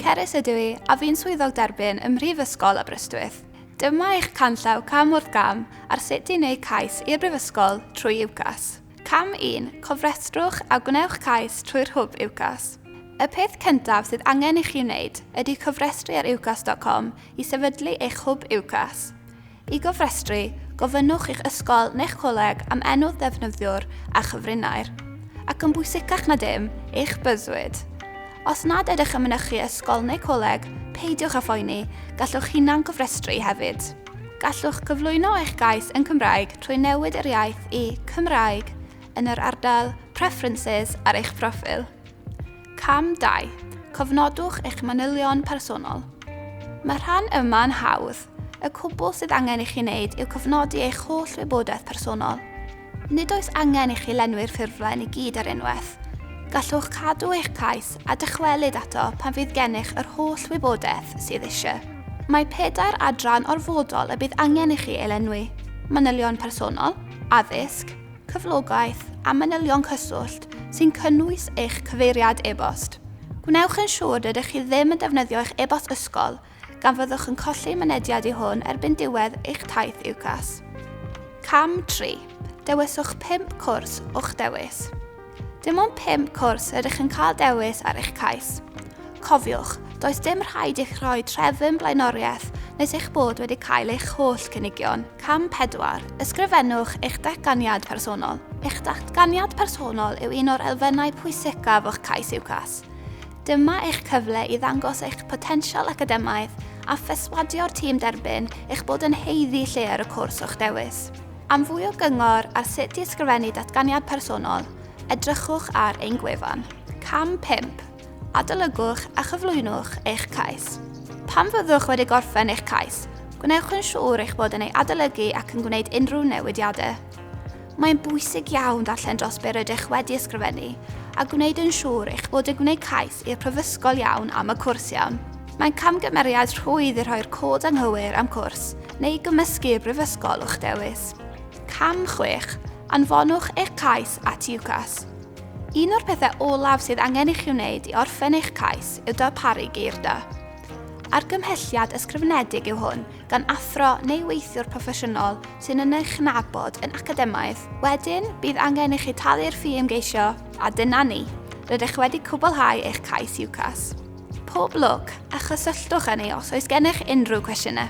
Cerys ydw i, a fi'n swyddog derbyn ym Mhrifysgol Aberystwyth. Dyma eich canllaw cam wrth gam ar sut i wneud cais i'r Brifysgol trwy UCAS. Cam 1, cofrestrwch a gwnewch cais trwy'r hwb UCAS. Y peth cyntaf sydd angen i chi wneud ydy cofrestru ar ucas.com i sefydlu eich hwb UCAS. I gofrestru, gofynnwch i'ch ysgol neu'ch coleg am enw'r ddefnyddiwr a chyfrinair, ac yn bwysicach na dim, eich byddwyd. Os nad ydych yn mynychu ysgol neu coleg, peidiwch â phoeni, gallwch hunan gofrestru hefyd. Gallwch gyflwyno eich gais yn Cymraeg trwy newid yr iaith i Cymraeg yn yr ardal Preferences ar eich proffil. Cam 2. Cofnodwch eich manylion personol. Mae'r rhan yma yn hawdd. Y cwbl sydd angen i chi wneud yw cofnodi eich holl wybodaeth personol. Nid oes angen i chi lenwi'r ffurflen i gyd ar unwaith. Gallwch cadw eich cais a dychwelyd ato pan fydd gennych yr holl wybodaeth sydd eisiau. Mae pedair adran orfodol y bydd angen i chi ei lenwi, manylion personol, addysg, cyflogaeth a manylion cyswllt sy'n cynnwys eich cyfeiriad e-bost. Gwnewch yn siŵr rydych chi ddim yn defnyddio eich e-bost ysgol gan fyddwch yn colli mynediad i hwn erbyn diwedd eich taith UCAS. Cam 3. Dewiswch 5 cwrs o'ch dewis. Dim ond pump cwrs rydych yn cael dewis ar eich cais. Cofiwch, does dim rhaid i'ch rhoi trefn blaenoriaeth nes eich bod wedi cael eich holl gynigion. Cam 4. Ysgrifennwch eich datganiad personol. Eich datganiad personol yw un o'r elfennau pwysicaf o'ch cais UCAS. Dyma eich cyfle i ddangos eich potensial academaidd a physwadio'r tîm derbyn eich bod yn haeddu lle ar y cwrs o'ch dewis. Am fwy o gyngor ar sut i ysgrifennu datganiad personol, edrychwch ar ein gwefan. Cam 5. Adolygwch a chyflwynwch eich cais. Pan fyddwch wedi gorffen eich cais, gwnewch yn siŵr eich bod yn ei adolygu ac yn gwneud unrhyw newidiadau. Mae'n bwysig iawn darllen dros be rydych wedi ysgrifennu a gwneud yn siŵr eich bod yn gwneud cais i'r prifysgol iawn am y cwrs iawn. Mae'n camgymeriad rhwydd i rhoi'r cod anghywir am cwrs, neu gymysgu y brifysgol o'ch dewis. Cam 6. Anfonwch eich cais at UCAS. Un o'r pethau olaf sydd angen i chi wneud i orffen eich cais yw darparu geirda. Argymhelliad ysgrifenedig yw hwn gan athro neu weithiwr proffesiynol sy'n yn eich nabod yn academaidd. Wedyn, bydd angen i chi talu'r ffi ymgeisio, a dyna ni. Rydych wedi cwblhau eich cais UCAS. Pob lwc, a chysylltwch â ni os oes gennych unrhyw cwestiynau.